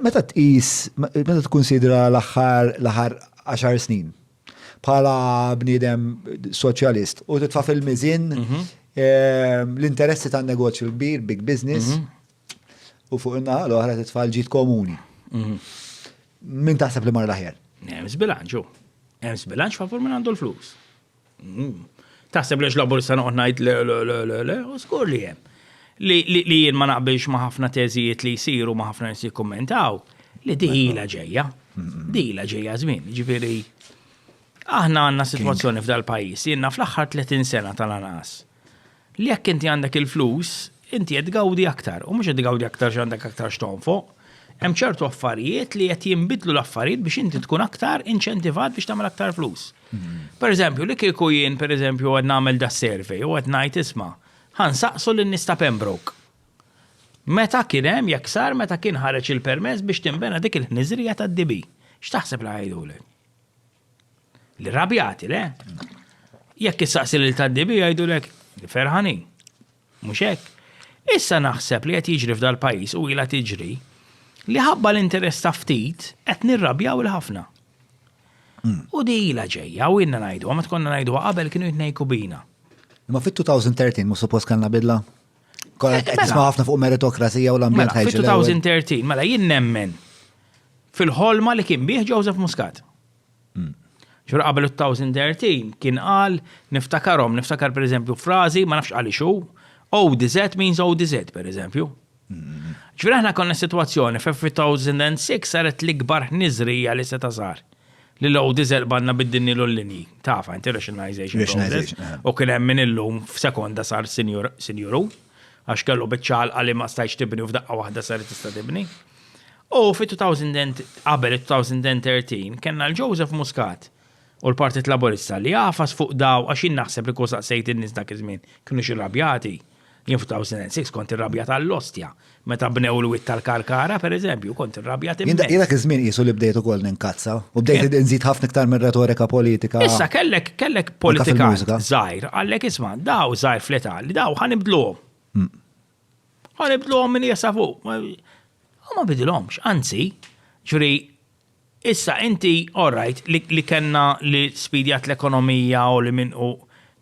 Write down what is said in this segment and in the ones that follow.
Meta tqis, meta tkunsidra l-aħħar l-aħħar għaxar snin bħala bniedem soċjalist u titfa' fil-miżin mhm. ehm, l-interessi tan negozju l-kbir, big business, mhm. u fuq in-naħa l-oħra titfa' l-ġid komuni. Mhm. Min taħseb li mar l-aħjar? Hemm bilanċu. Hemm bilanċ favur minn għandu l-flus. Taħseb li xlabur sa noqgħod ngħid le le le le le, u żgur li hemm. Li jien ma naqbilx ma' ħafna teżijiet li jsiru ma' ħafna nies jikkummentaw, li diħila ġejja. Diħila ġejja żmien, ġifieri. Aħna għandna sitwazzjoni f'dal-pajjiż, jiena fl-aħħar 30 sena tal-anqas. li jekk inti għandek il-flus, inti qed tgawdi aktar, u mhux qed tgawdi aktar x'għandek aktar x'tonfoq. Hemm ċertu affarijiet li qed jinbidlu l-affarijiet biex inti tkun aktar inċentivat biex tagħmel aktar flus. Mhm. Per eżempju, li kieku jien per eżempju qed nagħmel da survey u qed ngħid isma' ħansaqsu lin nista Pembroke. Meta kien hemm jekk sar meta kien ħareġ il-permess biex tinbena dik il-ħniżrija tad-DB. X'taħseb li ħajdulek? L-irrabjati, le? Jekk issaqsi lil tad-dibi jgħidulek li ferħanin. Mhux hekk? Issa naħseb li qed jiġri f'dal-pajjiż u ilha tiġri li ħabba l-interess ta' ftit qed nirrabjaw il-ħafna. Hmm. U di ila ġejja, u inna najdu, ma tkonna najdu qabel kienu jitnejku bina. Ma fit-2013 mu suppost kanna bidla? Kolla qed nisma' ħafna fuq meritokrazija u l-ambjent Mela, ħajġi l-ewwel. fit-2013, mela jien nemmen fil-ħolma li kien bih Joseph Muscat. Ġura qabel il-2013 kien qal niftakarom, niftakar per eżempju frażi, ma nafx għaliex hu, ODZ means ODZ per eżempju. Ġura aħna konna situazzjoni fe 2006 saret l-ikbar ħniżrija li seta sar. li low diesel banna biddinnilu l-linji. Tafa, inti rationalization process. U kien hemm min illum f'sekonda sar sinjuru, għax kellu biċċal għalli ma stajx tibni u f'daqqa waħda sar tista' tibni. U fi 2000 qabel 2013 kellna l-Joseph Muscat u l-Partit Laburista li għafas fuq daw għax jien naħseb li kull saqsejt in-nies dak iż-żmien kienu xi rabjati. Jien f'2006 skont ir-rabja tal-Ostja, meta bnew l-witt tal-Karkara, per eżempju, kont ir-rabja timmens. Jien dak iż-żmien qisu li bdejt ukoll ninkazza u bdejt inżid ħafna iktar minn retorika politika. Issa kellek kellek politika żgħir, għallek isma' daw żgħir fl-età li daw ħa nibdluhom. Mm. Ħa nibdluhom minn jesa fuq. U ma bidilhomx, anzi, ġri issa inti all right li kellna li spidjat l-ekonomija u li minn u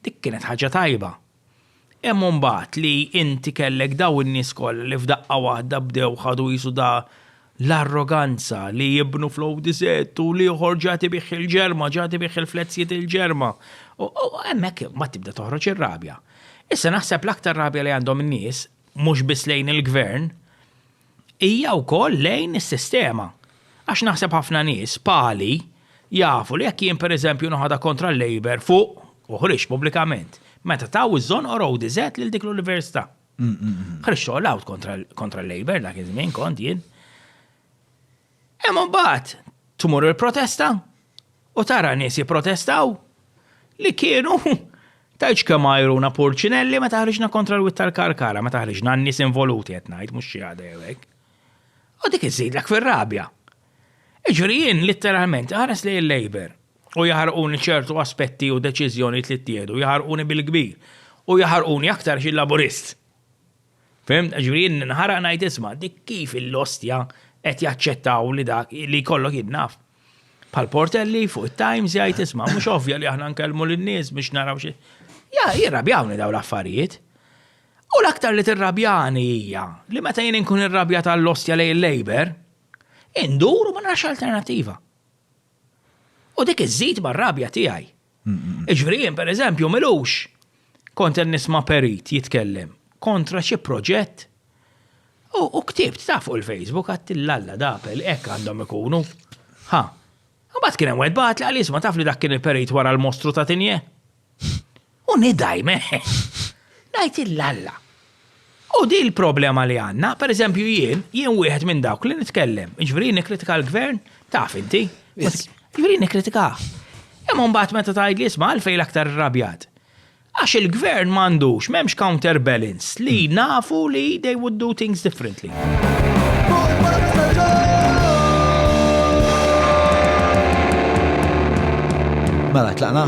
dik kienet ħaġa tajba Hemm imbagħad li inti kellek dawn in-nies kollha li f'daqqa waħda bdew ħadu qisu da l-arroganza li jibnu fl-ODZ u l-ieħor ġa tibih il-ġerma, ġa tibih il-fletzijiet il-ġerma. U hemmhekk imbagħad tibda toħroġ ir-rabja. Issa naħseb l-aktar rabja li għandhom in-nies, mhux biss lejn il-Gvern, hija wkoll lejn is-sistema. Għax naħseb ħafna nies, pali, jafu li jekk jien pereżempju noħodha kontra l-Labour fuq, u ħriġt pubblikament, meta taw iż-żonqor Eau d'Isette lil dik l-Università. Ħriġt all out kontra l-Labour dak iż-żmien kont jien. Hemm imbagħad tmur il-protesta u tara nies jipprotestaw li kienu tgħidx kemm għajruna purċinelli meta ħriġna kontra l-wied tal-Karkara, meta ħriġna n-nies involuti qed ngħid mhux xi ħadd jew hekk. U dik iżidlek fir-rabja. Jiġri jien litteralment ħares li l-Labour u jaħarquni ċertu aspetti u deċiżjonijiet li ttieħdu, jaħarquni bil-kbir u jaħarquni aktar xi Laburist. Fehimtna? Jiġifieri jien ninħaraq ngħid isma' dik kif il-ostja qed jaċċettaw li dak li jkollok jien naf. Bħal Portelli fuq it-Times jgħid isma' mhux ovvja li aħna nkellmu lin-nies biex naraw xi. Ja, jirrabjawni dawn l-affarijiet. U l-aktar li tirrabjani hija li meta jien inkun irrabjat għall-ostja lejn il-Labour, indur u ma narax alternattiva. U dik iżżid mar-rabja tiegħi. Jiġifieri jien pereżempju m'ilux kont qed nisma' perit jitkellem kontra xi proġett u ktibt taf fuq il-Facebook għidt l-Alla dapel hekk għandhom ikunu. Ħa. Imbagħad kien hemm wieħed bagħatli qal isma' taf li dak kien il-perit wara l-mostru ta' Tinje? U nidgħi meh! Ngħid il-Alla. U din il-problema li għandna, per eżempju jien, jien wieħed minn dawk li nitkellem, jiġifieri nikkritika l-gvern, taf inti. Jiġifieri nikkritika. Imma mbagħad meta tgħidli isma' għalfejn l-aktar irrabjat. Għax il-gvern m'għandux, m'hemmx counterbalance li hmm. nafu li they would do things differently. Mela, tlaqna?